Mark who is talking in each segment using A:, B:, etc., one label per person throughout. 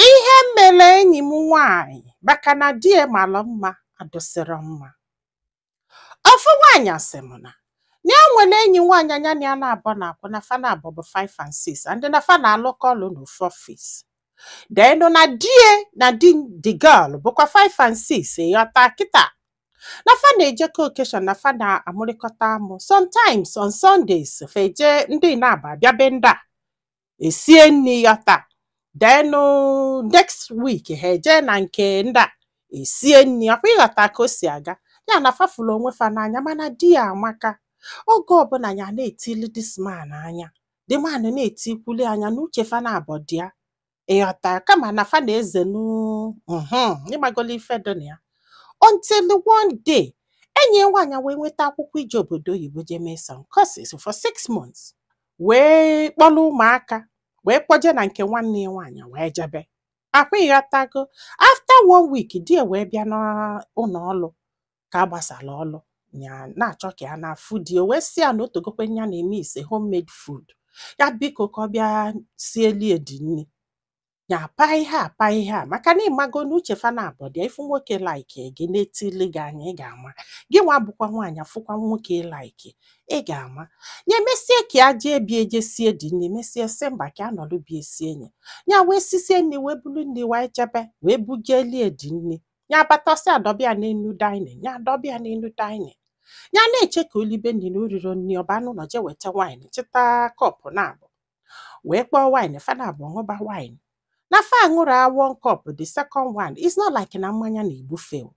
A: Ihe mere enyi m nwaanyị maka na di ya mara mma adịsịrọ mma. Ofu nwaanyị asị m na na ya nwere enyi nwaanyị a nya na ya na-abọ na-akwụ na fa na-abọ bụ five and six and na fa na-alụkọ ọlụ n'ofu ọfis. Then na di ya na di the girl bụkwa five and six ịghọta kịta. Na fa na-ejekọ occasion na fa na-amụrịkọta amụ. Sometimes on Sundays fa eje ndị na-abọ abịa be ndị a. esie nri ịghọta then next week ha eje na nke ndị a esie nri akwa ịghọta ka o si aga ya na fa fụlụ onwe fa n'anya mana di ya amaka oge ọbụla ya na-etili this man anya the man na-etikwuli anya na uche fa na-abọ dị ya ịghọta kama na fa na-ezenụ ịmagolu ife dị na ya until one day enyi ya nwaanyị wee nweta akwụkwọ ije obodo oyibo jee mee some courses for six months wee kpọrọ ụmụaka wee kpọje na nke nwanne ya nwaanyị wee jebe akwa ịghọtago after one week di ya wee bịa n'ụlọ ọrụ ka a gbasara ọrụ ya na-achọ ka ya naa afụ di ya wee sị ya na o tegokwe ya na-emiss homemade food ya biko ka ọ bịa sieli ya the nni ya paa ihe a paa ihe a maka na ịmago na uche fa na-abọ dị ya ị fụ nwoke like gị na-etili gị anya ị ga-ama gị nwa bụkwa nwaanyị afụkwa nwoke like ị ga-ama ya emesie ka ya jee be ya je sie the nni mesie sị mba ka a nọrọ be ya sie nye ya wee sisie nni wee bulu nni wee jebe wee bujeli ya the nni ya abatasị adọbe ya n'enu dining ya adọbe ya n'enu dining ya na-eche ka o libe nni na o rirọ nni ọ baa n'ụnọ je weta wine chịta cup na-abọ wee kpọọ wine fa na-abọ ṅụba wine na fa ṅụrụ one cup the second one it's not like na mmanya na-egbu fa o.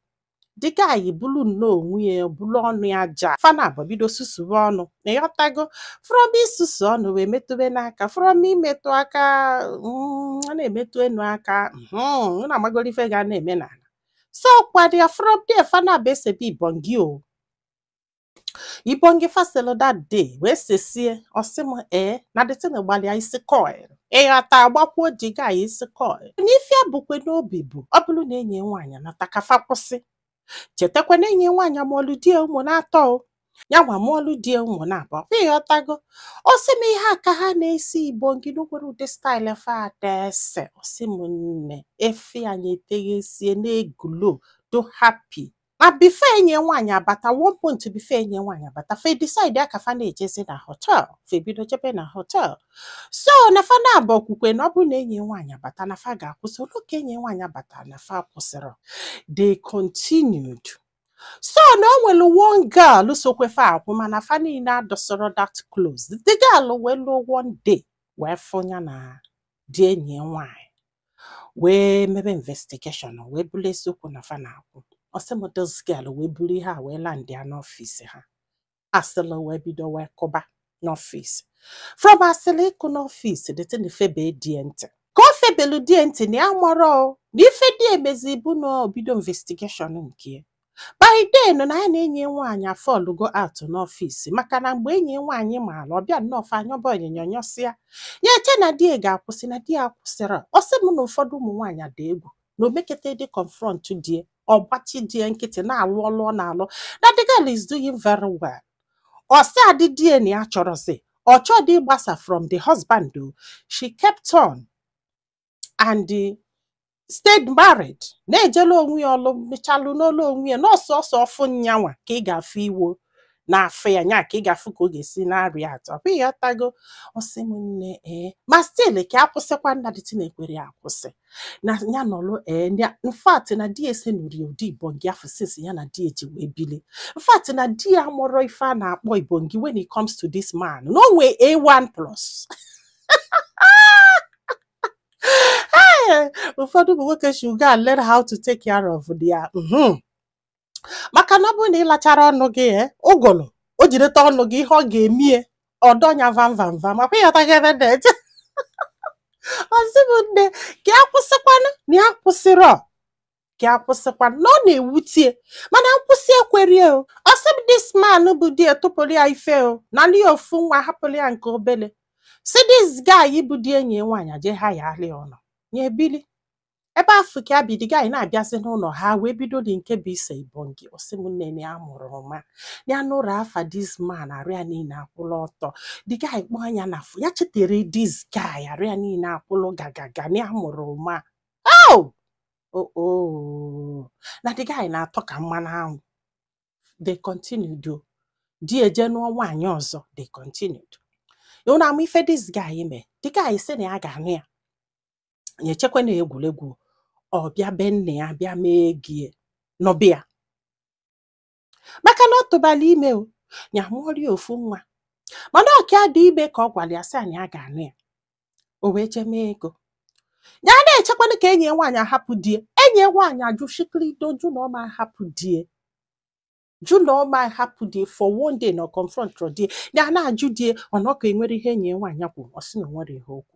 A: the guy bulu nnọọ onwe ya bulu ọnụ ya ja fa na-abọ bido susuwe ọnụ na ịghọtago from isusu ọnụ wee metụbe n'aka from imetụ aka mm, ọ na-emetụ enu aka mhm, unu amagoro ife ga na-eme n'ala so kwadịa from there fa na-abọ esebe ibongi o Ibongi faselo that day wee sesie ọ sị m ee na the thing gbalụ ya isi coil ịghọta agbakwuo the guy isi coil na ife a bukwe n'obi bụ ọ bụrụ na enyi nwaanyị nata ka fa kwụsị chetakwa na enyi nwaanyị mụọlụ di ya ụmụ na-atọ o ya nwa mụọlụ di ya ụmụ na-abụọ kwa ịghọtago ọ sị m ihe a ka ha na-ese ibongi na o nwerọ ụdị style fa ada ese ọ sị m nne efe anyị eteghesie na-egulo do happy ma before enyi nwaanyị abata one point before enyi nwaanyị abata fa edecide ka fa na-ejezi na hotel fa ebido jebe na hotel so na fa na-abọ kwukwe na ọ bụ na enyi nwaanyị abata na fa ga-akwụsị o lu ka enyi nwaanyị abata na fa akwụsịrọ they continued so na o nwere one girl sokwe fa akwụ mana fa niile adịsịrọ that close the girl wee luo one day wee fụ ya na di enyi nwaanyị wee mebe investigation wee bụrụ eziokwu na fa na-akwụ ọ sị m this girl wee buru ihe a wee landị ya n'ọfịs ha asịlị wee bido wee kụba n'ọfịs from asịlị ịkụ n'ọfịs the thing febe die ntị ka o febelu die ntị na ya amarọ o, na ife die mezi bụ na o bido investigation nke ya by then na ya na enyi ya nwaanyị afọlụgo out n'ọfịs maka na mgbe enyi ya nwaanyị maara ọ bịa nnọọ fa anyọba onyinyo nyọsịa ya eche na di ya ga-akwụsị na di ya akwụsịrọ ọ sị m na ụfọdụ ụmụ nwaanyị adị egwu na o mekete dị confront die ọ gbachi di ya nkịtị na-alụ ọlụ ọ na-alụ na the girl is doing very well ọ sị adị di ya na ya achọrọzi ọ chọdị ịgbasa from the husband o she kept on and stayed married na-ejelu onwe ya ọlụ mechalụ n'olu onwe ya n'ọsọ ọsọ ọfụ nyanwa ka ị ga-afụ iwo na-afụ ya nya ka ị ga-afụ ka ọ ga-esi na-arịa atọ ọ bụ ị ghọtago ọ sị m nne ee ma still ka a kwụsịkwanụ na the thing ekwerọ ya akwụsị na ya nọlụ ee in fact na die esenurọ ya ụdị ibongi afụ since ya na die ji wee bili in fact na di ya amarọ ife a na-akpọ ibongi when it comes to this man na o nwee A1 plus ụfọdụ ụmụ nwoke should go and learn how to take care of their mhm. maka na ọ bụrụ na ị lacharọ ọnụ gị eh, ụgụrụ o jideta ọnụ gị ihe ọ ga-emie ọ dọọ ya vam vam vam ọ kwa ị ghọtago ebe m na-eje ọ sị m nne ka ya kwụsịkwanụ na ya akwụsịrọ ka ya kwụsịkwa na ọ na-ewutie mana nkwụsị ekwerie o ọ sị m this man bụ die tụpụrụ ya ife o nalị ya ofu nwa hapụrụ ya nke obele sị this guy bụ di enyi ya nwaanyị eje hayalụ ụlọ ya ebili ebe afụ ka ya bi the guy ana-abịazi n'ụlọ ha wee bidodị nke bụ ise ibongi ọ sị m nne ya mụrụ ụma ya nụrụ afa this man arụ ya niile akwụlụ ọtọ the guy kpọọ ya na phone ya chetere this guy arụ ya niile akwụlụ gagaga na ya mụrụ ụma oh oh oh na the guy na-atọ ka mmanụ anwụ they continued o die eje nụọ nwaanyị ọzọ they continued ịhụ na ama ife this guy mee the guy sị na ya ga-anụ ya ya echekwa na egwuregwu ọ bịa be nne ya bịa mee ego ya nụba ya maka na ọ tụbalụ ya ime o ya amụọrịa ofu nwa mana ọ ka dị ime ka ọ gwara ya sị na ya ga-anụ ya o wee jee mee ego ya na-echekwanụ ka enyi ya nwaanyị ahapụ die enyi ya nwaanyị ajụ shikirido jụ na ọ ma ahapụ die jụ na ọ ma ahapụ die for one day na ọ confrontrọ die ya na-ajụ die ọ na ọka enwere ihe enyi ya nwaanyị kwuru ọ sị na o nwere ihe o kwu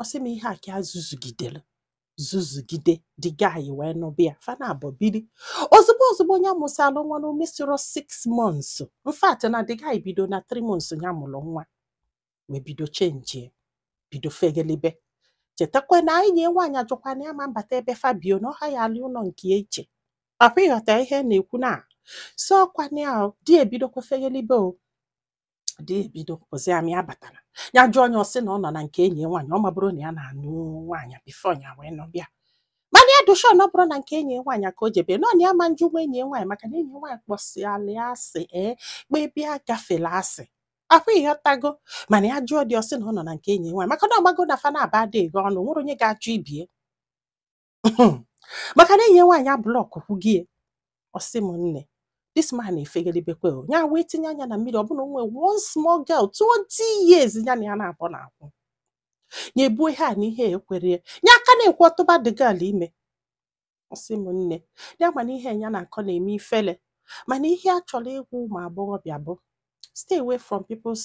A: ọ sị m ihe a ka ya zuzugidere zuzugide the guy wee nụba ya fa naabọ biri ozugbo ozugbo nya amụsịala nwa na o mesirọ 6 months in fact na the guy bido na 3 months ya mụrụ nwa wee bido chenjie bido fegelibe chetakwa na enyi ya nwaanyị ajụkwa na ya ma mbata ebe fa bi o na ọ haya alị ụnọ nke iche akwa ị ghọta ihe na-ekwu na so ọkwa na ya di ebidokwa fegelibe o di ebido pụzịa ma ya batara ya jụọ nya ọ sị na ọ nọ na nke enyi ya nwaanyị ọ mabụrụ na ya na-anụ nwaanyị before ya wee nụba ya mana ya dị sure na ọ bụrọ na nke enyi ya nwaanyị ka o jebe nọ na ya ma njụnwu enyi ya nwaanyị maka na enyi ya nwaanyị kpọsịala ya asị ee kpebia gafela asị akwa ị ghọtago mana ya jụọ di ọ sị na ọ nọ na nke enyi ya nwaanyị maka na ọ mago na fa naabọ adịghị ọnụ nwerọ onye ga-ajụ ibe ya maka na enyi nwaanyị ablọkụkwugo ya ọ sị m nne this man efegelibekwe o ya wee tinye anya na mmiri ọ bụ na o nwee one small girl 20 years ya na ya naabọ na-akwụ ya ebuo ihe a na ihe ekwere ya ya aka na-ekwu ọ tụba the girl ime ọ sị m nne ya ma na ihe ya na-akọ na-eme ifele mana ihe a chọrọ ịgwa ụmụ agbọghọbịa bụ stay away from people's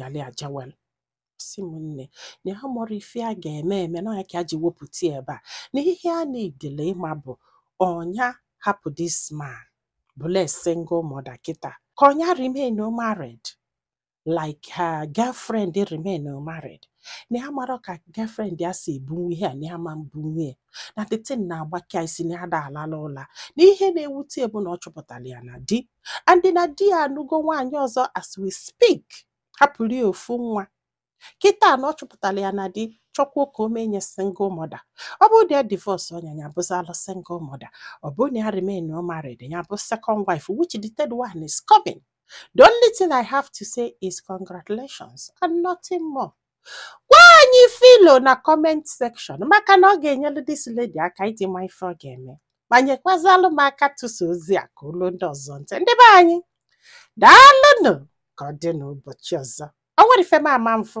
A: yali aja wel ọ sị m nne na ya amarọ ife ya ga-eme eme na ya ka a ji wepụta ya ebe a na ihe a na-edele ịma bụ ọ nya hapụ this man bụlụ a single mother kịta ka ọ nya remain married like her girlfriend remain married na ya amarọ ka girlfriend ya si ebunwu ihe a na ya ma mbunwu ya na the thing na-agbaka ya isi na ya ada alala ụla na ihe na-ewute ya bụ na ọ chọpụtara ya na di and na di ya anụgo nwaanyị ọzọ as we speak hapụrụ ya ofu nwa kịta na ọ chọpụtara ya na di chọkwuo ka o mee nya single mother ọ bụrụ na ya divorce ọ nya ya abụzịalụ single mother ọ bụrụ na ya remain married ya abụ second wife which the third one is coming the only thing i have to say is congratulations and nothing more gwa anyị ife i lo na comment section maka na ọ ga-enyelu this lady aka iji ma ife ọ ga-eme ma nyekwazalụ m aka tụsa ozi a ka o lu ndị ọzọ ntị ndị be anyị daalụnụ ka ọ dị n'ụbọchị ọzọ o nwerọ ife m ama mfụ